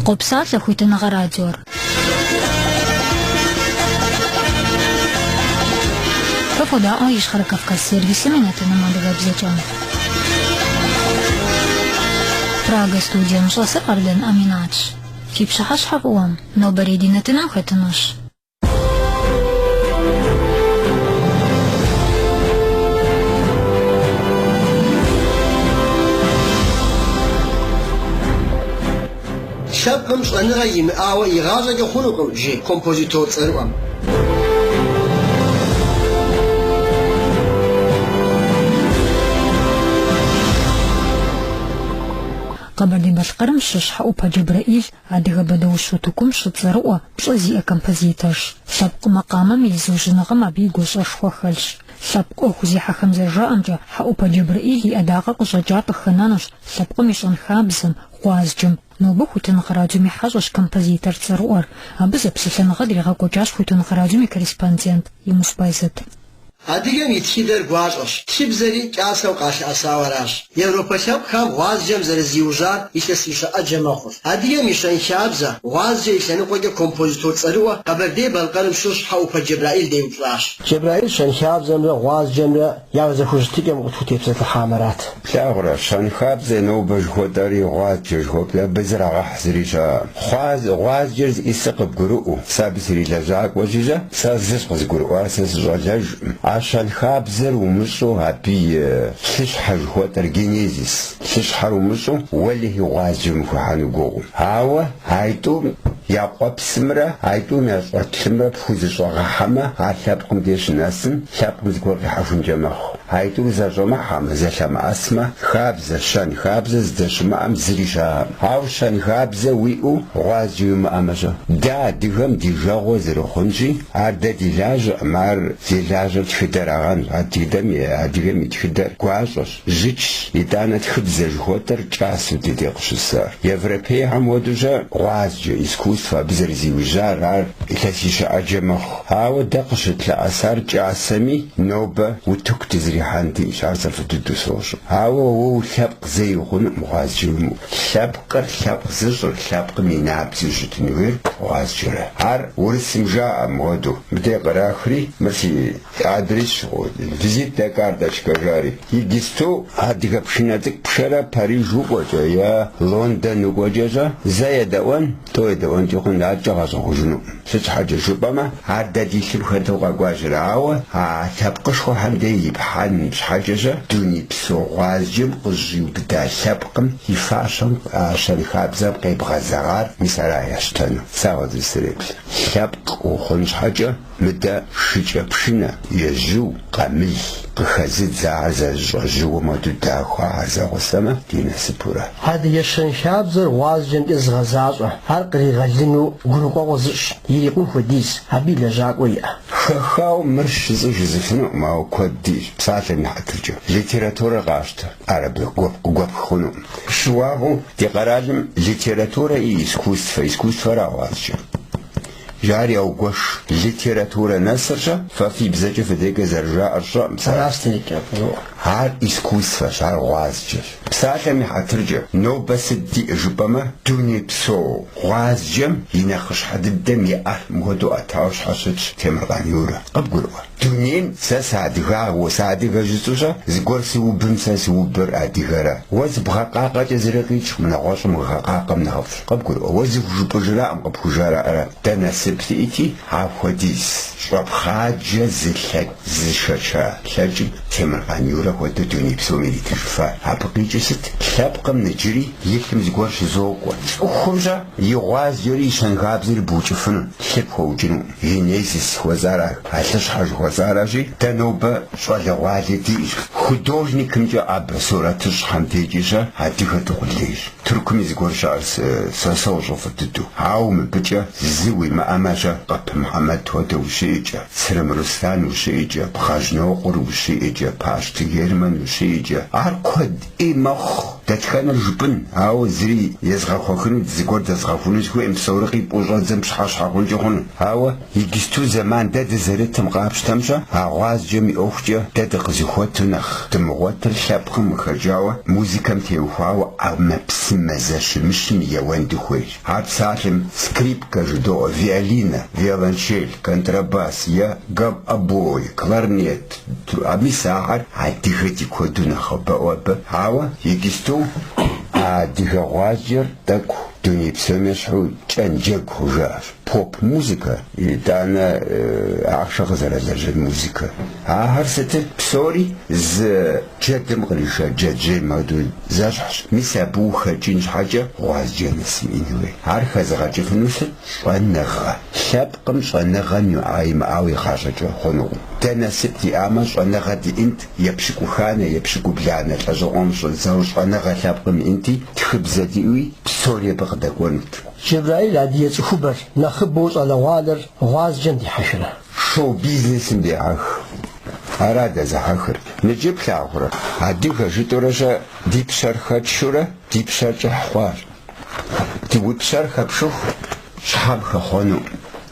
Къопсалъэ хуитыныгъэ радиор. Фэ фодаӏуэ Ищхъэрэ Кавказ сервисым и нэтыным адыгэбзэкӏэ. Прага студием щӏэсыр Къардэн Аминатщ. Фи пщыхьэщхьэ фӏыуэм, нобэрей ди нэтыным хэтынущ. Лъэпкъым щӏэныгъэ имыӏауэ игъащӏэкӏэ хъунукъым, жи композитор цӏэрыӏуэм. Къэбэрдей-Балъкъэрым щыщ Хьэӏупэ Джэбрэӏил Адыгэ бэдэущ утыкум щыцӏэрыӏуэ, пщӏэ зиӏэ композиторщ. Лъэпкъ макъамэм и зыужьыныгъэм абы и гуащӏэшхуэ хэлъщ. Лъэпкъ ӏуэху зехьэхэм зэрыжаӏэмкӏэ, Хьэӏупэ Джэбрэӏил и ӏэдакъэ къыщӏэкӏар къыхэнэнущ лъэпкъым и щэнхабзэм, гъуазджэм. Нобэ Хуитыныгъэ радиом и хьэщӏэщ композитор цӏэрыӏуэр. Абы зэпсэлъэныгъэ дригъэкӏуэкӏащ Хуитыныгъэ радиом и корреспондент Имус Байзэт. Адыгэм и тхыдэр гуащӏэщ, тхыбзэри кӏасэу къалъыӏэсау аращ. Европэ лъэпкъхэм гъуазджэм зэрызиужьар илъэсищэ ӏэджэ мэхъур. Адыгэм и щэнхабзэ, гъуазджэ и лъэныкъуэкӏэ композитор цӏэрыӏуэ Къэбэрдей-Балъкъэрым щыщ Хьэӏупэ Джэбрэӏил деупщӏащ. Джэбрэӏил щэнхабзэмрэ гъуазджэмрэ я зэхущытыкӏэм къытхутепсэлъыхьамэрат. Плъагъурэ, щэнхабзэ нобэ жыхуэтӏэри гъуазджэ жыхуэпӏи абы зрагъэхь зыри щыӏэ. Хъуаз, гъуазджэр зиӏысыр къыбгурыӏуэу, сэ абы срилэжьакӏуэ щыщӏэ, сэ зы щыкъызгурыӏуар сэ сыщӏалэжкъым. А щэнхабзэр умыщӏу абы и лъыщхьэ жыхуэтӏэр, генезис, лъыщхьэр умыщӏу уэлэхьи гъуазджэм ухыхьэну гугъу. Ауэ айтӏум я къуэпсымрэ айтӏум я щӏэлъымрэ пхузэщӏэгъэхьэмэ, ар лъэпкъым деж щынэсым, лъэпкъым зыгуэр къихьэхункӏэ мэхъу. Айтӏур зэщӏэмыхьэмэ, зэлъэмыӏэсмэ, хабзэ, щэнхабзэ здэщымыӏэм зыри щыӏэкъым. Ауэ щэнхабзэ уиӏэу гъуазджэ уимыӏэмэ-щэ? Дэ адыгэм ди жагъуэ зэрыхъунщи, ар дэ ди лажьэкъым, ар зи лажьэр тхыдэрагъэнщ, адыгэм и адыгэм и тхыдэр гуащӏэщ, жьычщ, итӏанэ тхыбзэ жыхуэтӏэр кӏасэу ди деж къыщысар. Европейхэм уэдущэ гъуазджэ, искусство, абы зэрызиужьар, ар илъэсищэ ӏэджэ мэхъу. Ауэ дэ къыщытлъэӏэсар кӏасэми, нобэ утыку дызрихьэн диӏэщ, ар сэ фӏы дыдэу сощӏэ. Ауэ уэ уи лъэпкъ зэи ухъунукъым гъуазджэ уимыӏэу. Лъэпкъыр, лъэпкъ зыщӏыр, лъэпкъым и набдзэу щытын хуейр гъуазджэра. Ар урысым жаӏэм хуэдэу, мыдэ кърахри, мыр си адрес щыгъуи, визитнэ карточкэ жари, иджысту адыгэ пшынэ цӏыкӏу пшэрэ Париж укӏуэкӏэ е Лондон укӏуэкӏэ-щэ, зэ едэӏуэн, тӏу едэӏуэнкӏи хъун, адэкӏэ ягъэщӏэгъуэжынукъым. Сыт щхьэкӏэ жыпӏэмэ, ар дэ ди лъым хэту къэкӏуэжыр, ауэ а лъэпкъышхуэхэм деж ипхьэн щхьэкӏэщэ дунейпсо гъуазджэм къыщӏиубыда лъэпкъым и фащэм щэнхабзэм къебгъэзэгъар мис ара ящтэну? Сэ сызэреплъ, лъэпкъ ухъун щхьэкӏэ мыдэ шыкӏэпшынэ. Ежьу, къамыл, къыхэзыдз ахэр зэрыщӏэжьыуэм хуэдэу дахэу ахэр зэгъусэмэ ди насыпурэ. Адыгэ щэнхабзэр гъуазджэмкӏэ зыгъэзащӏэ, ар къригъэлыну гурыӏуэгъуэ зыщӏ, ирикъун хуэдиз, абы и лэжьакӏуэ иӏэ. Хэхауэ мыращ жысӏэу жысӏэфынукъым, ауэ куэд диӏэщ, псалъэм и хьэтыркӏэ, литературэр къащтэ, ар абы гуэп къыгуэпх хъунукъым. Щыуагъэу, ди къэралым литературэ и искусствэ, искусствэрэ а гъуазджэ. Жаӏэри яугуэш. Литературэ нэсырщэ, фэ фи бзэкӏэ фи декӏэ зэрыжаӏэр сщӏэкъым сэ. Аращ текӏэ къызоӏэ. Ар искусствэщ, ар гъуазджэщ. Псалъэм и хьэтыркӏэ, нобэ сыт диӏэ жыпӏэмэ, дунейпсо гъуазджэм и нэхъыщхьэ дыдэм и ӏэр мыхуэдэу ӏэтауэ щхьэщытщ Темыркъан Юрэ. Къыбгурыӏуэ? Дунейм сэ сыадыгагъэу, сыадыгэ жысӏэу-щэ, зыгуэр сыубым сэ сыубыр адыгэрэ. Уэ зыбгъэкъакъэкӏэ зыри къикӏкъым, нэгъуэщӏым уигъэкъакъэм нэхъыфӏщ. Къыбгурыӏуэ, уэ зыхужыпӏэжракъым, къыпхужаӏэра. Дэ насып диӏэти, апхуэдиз щӏэпхъаджэ зы лъэпкъ зышэча лъэпкъым Темыркъан Юрэ хуэдэу дуней псом иритыжыфа. Абы къикӏыр сыт? Лъэпкъым иджыри и лъым зыгуэр щызокӏуэ, цӏыхум-щэ и гъуазджэри и щэнхабзэри букӏыфыну, лъыр пхуэукӏыну. Генезис жыхуэсӏэр ар, а лъыщхьэ жыхуэсӏэращи, дэ нобэ щӏалэгъуалэ диӏэщ. Художникымкӏэ абы сурэтыщӏхэм декӏэ-щэ адыгэ дыкъулейщ. Тыркуми зыгуэр щыӏэр сэ сощӏэ фӏы дыдэу. Ауэ мыбыкӏэ зы уимыӏэмэ-щэ, Къып Мухьэмэд хуэдэ ущиӏэкӏэ, Цырым Руслан ущиӏэкӏэ, Бгъэжьнокъуэр ущиӏэкӏэ, Пащты Герман ущиӏэкӏэ, ар куэд. ӏей мэхъу дэтхэнэр жыпӏэн, ауэ зыри езгъэхуэхыну, зыгуэр дэзгъэхуну сыхуейкъым, псори къипӏуэу щӏэбдзэм пщыхьэщхьэ хъункӏэ хъуну. Ауэ иджысту зэман дэ дызэрытым къапщтэм-щэ, а гъуазджэм и ӏуэхукӏэ дэ дыкъызыхуэту нэхъ дымыгъуэтыр лъэпкъым къыхэкӏауэ, музыкэм теухуауэ ӏэмэпсымэ зэщымыщым еуэн дыхуейщ. Ар псалъэм скрипкэ жыдоӏэ, виолинэ, виолончель, контрабас е гобой, кларнет, А мис ахэр адыгэ ди куэду нэхъыбэӏуэ абы, ауэ иджысту а адыгэ гъуазджэр тӏэкӏу дуней псом ещхьу кӏэн джэгу хъужащ. Поп-музыкэ, итӏанэ ахъшэ къызэралэжьын музыкэ, ахэр сытыр псори зы джэдым къриша джэджьейм хуэдэу зэщхьщ, мис абы ухэкӏын щхьэкӏэ гъуазджэ нэс уиӏэн хуей. Ар хэзыгъэкӏыфыну сыт щӏэныгъэ? Лъэпкъ Къым щӏэныгъэм иӏа-имыӏауэ игъащӏэкӏэ хъунукъым. Дэ насып диӏамэ, щӏэныгъэ диӏэнт, епщыкӏуханэ, епщыкӏубланэ лӏэщӏыгъуэм щӏидзэу щӏэныгъэ лъэпкъым иӏэнти, тхыбзэ диӏуи, псори абы къыдэкӏуэнут. Джэбраил адыгэ цӏыхубэр нэхъыбэу щӏалэгъуалэр гъуазджэм дихьэхрэ? Шоу-бизнесым дехьэх. Ара дэзыхьэхыр? Ныджы плъагъурэ? Адыгэ жытӏурэ-щэ ди пщэр хэтшурэ ди пщэр кӏыхь хъуащ. Ди уи пщэр хэпшыху щхьэм хэхъуэну.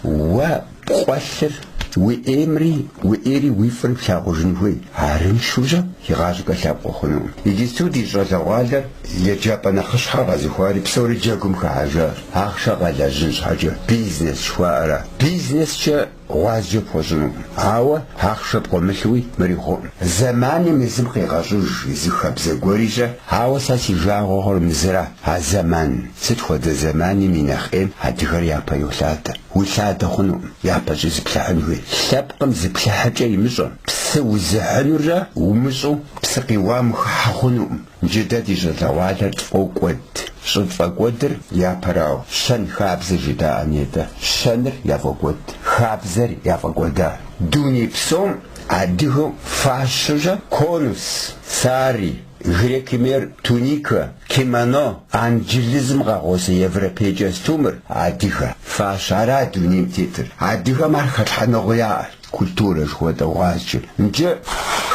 Уэ пкъуэлъыр уи ӏеймри уи ӏейри уи фӏыр плъагъужын хуей арыншэу-щэ игъащӏэкӏэ лъэпкъ ухъунукъым. Иджысту ди щӏалэгъуалэр еджапӏэ нэхъыщхьэ къэзыухари псори джэгум хыхьэжащ. Ахъшэ къэлэжьын щхьэкӏэ бизнес жыхуаӏэра. Бизнескӏэ Гъуазджэ пхуэщӏынукъым, ауэ ахъшэ пкъуэмылъуи мыри хъуӏым. Зэманым езым къигъэщӏыж зы хабзэ гуэри-щэ, ауэ сэ си жагъуэ хъур мы зыра, а зэман, сыт хуэдэ зэманым и нэхъ ӏейм адыгэр япэ йолъадэ. Уилъадэ хъунукъым, япэкӏэ зыплъыхьын хуей. Лъэпкъым зыплъыхьыкӏэ имыщӏэм, псы узыхьынурэ умыщӏу псы къиуам ухыхьэ хъунукъым. Джы дэ ди щӏалэгъуалэр тфӏокӏуэд. Щӏытфӏэкӏуэдыр япэрауэ, щэн хабзэ жыдаӏэ нетӏэ. Щэныр яфӏокӏуэд, хабзэр яфӏэкӏуэда. Дуней псом адыгэу фащэжэ конус, сари, грекхэм я туникэ, кимоно, анджылызым къагъуэзэ европей кӏэстумыр, адыгэ фащэ ара дунейм тетыр. Адыгэм ар хэлъхьэныгъэу яӏэр. Культурэ жыхуэтӏэ гъуазджэр. Нджы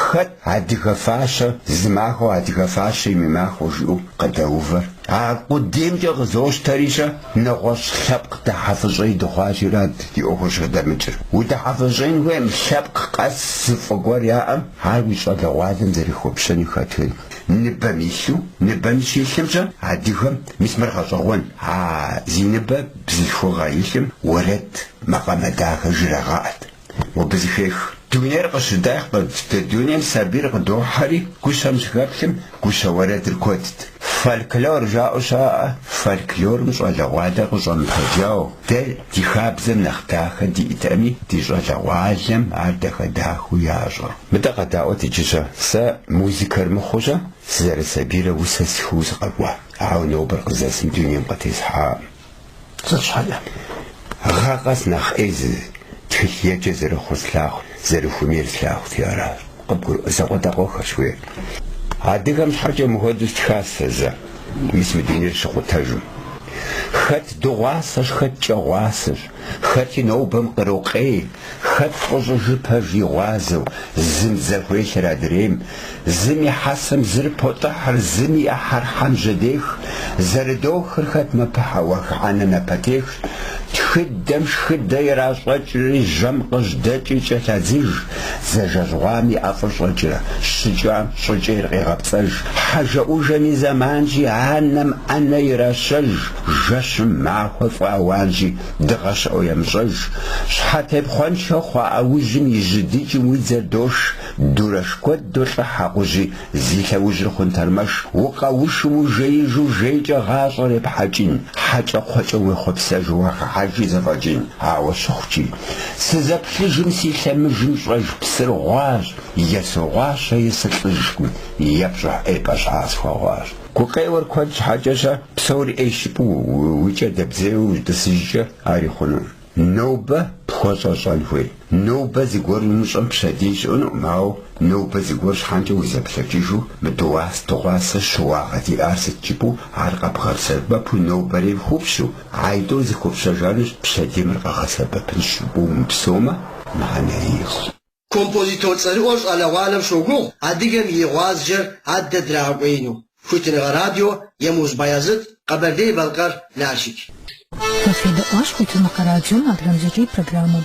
хэт адыгэ фащэ, зы махуэу адыгэ фащэ и махуэ жиӏэу къыдэувэр? А къудеймкӏэ къызощтэри-щэ, нэгъуэщӏ лъэпкъ дыхьэфӏыщӏей дыхъуащи арат ди ӏуэхур щӏыдэмыкӏыр. Удыхьэфӏыщӏын хуейм лъэпкъ къэс зы фӏы гуэр яӏэм, ар уи щӏалэгъуалэм зэрыхэпщэнур хэтхын. Ныбэм илъу, ныбэм щилъымкӏэ адыгэм, мис мыр гъэщӏэгъуэн, а зи ныбэ бзылъхугъэ илъым уэрэд. Макъамэ дахэ жрагъаӏэт. Мобы зыхех. Дунейр къыщыдах къыдт. Ды дунейм сабийр къытохьэри, гущэм щыхэплъым, гущэ уэрэдыр куэдт. Фольклор жаӏэу щаӏэ, фольклорым щӏалэгъуалэр къыщӏэмыпэджау, дэ ди хабзэм нэхъ дахэ диӏтэми, ди щӏалэгъуалэм ар дахэ-дахэу ящӏэ. Мыдэ къэдаӏуэт иджы-щэ. Сэ музыкэр мыхъуу-щэ, сызэрысабийрэ усэ стхыуэ сыкъэкӏуа. Ауэ нобэр къызэсым дунейм къытесхьакъым. Сыт щхьэкӏэ, гъэ къэс нэхъ ӏей зы тхылъ еджэ зэрыхъур слъагъут, зэрыхуэмейр слъагъути аращ. Къыбгурыӏуэ закъуэтӏакъуэхэрщ хуей. Адыгэм щхьэкӏэ мыхуэдэу стхащ сэ зэ, мис мы дунейр щыкъутэжым. Хэт дыгъуасэщ, хэт кӏэгъуасэщ, хэти нобэм кърокъей. Хэт фӏыщӏыжу пэж и гъуазэу, зым дзэ хуелъыр адрейм, зым и хьэсэм зыр потӏыхьыр, зым и ӏыхьэр хьэм жьэдех, зэрыдохыр хэт мэпыхьэ уах ӏэнэ напэтехщ, тхыдэм шхыдэ иращӏэкӏри, жьэм къыжьдэкӏи кӏэлъадзыж, дзэ жэжьгъуам и ӏэфӏыщӏэкӏэ, щыкӏам щӏыкӏейр къегъэпцӏэж, хьэжэӏужэм и зэманщи, анэм ӏэнэ иращэж, жэщым махуэ фӏэауанщи, Дыгъэ щыӏэу емыщӏэж. Щхьэтепхъуэншэ хъуа ӏэужьым и жьы дыджым уи дзэр дош, дурэш куэд долӏыхь акъужьи, зи лъэужьыр хъун тэрмэш, укъэушу, ужеижу, жейкӏэ гъащӏэр епхьэкӏын, хьэкӏэкхъуэкӏэм уехъуэпсэжу уагъэхьэжи зэфӏэкӏын. Ауэ щыхъукӏи, сызэплъыжым си лъэмыжым щӏэж псыр гъуащ, е согъуащэ, е сылӏыжкъым, е пщӏыхьэпӏэ щхьэ схуэгъуащ. Гукъеуэр куэд щхьэкӏэ-щэ псори ӏейщ жыпӏэу уи кӏэ дэбдзейуэ утӏысыжкӏэ ар хъунукъым. Нобэ пхуэщӏэ щӏэн хуей. Нобэ зыгуэр умыщӏэм пщэдей щыӏэнукъым, ауэ нобэ зыгуэр щхьэкӏэ узэплъэкӏыжу мы дыгъуас дыгъуасэ щыуагъэ диӏар сыт жыпӏэу ар къэбгъэсэбэпу нобэрейм хупщу, атӏэ зыхупщэжанущ пщэдейм ар къэгъэсэбэпынщ жыпӏэу умыпсэумэ, мыхьэнэрейщ. Композитор цӏэрыӏуэр щӏалэгъуалэм щогугъ адыгэм и гъуазджэр адэ драгъэкӏуеину, Хуитыныгъэ радио, Емуз Баязыт, Къэбэрдей-Балъкъэр, Налшык. Къыфедэӏуащ Хуитыныгъэ радиом адыгэбзэкӏэ и программэм.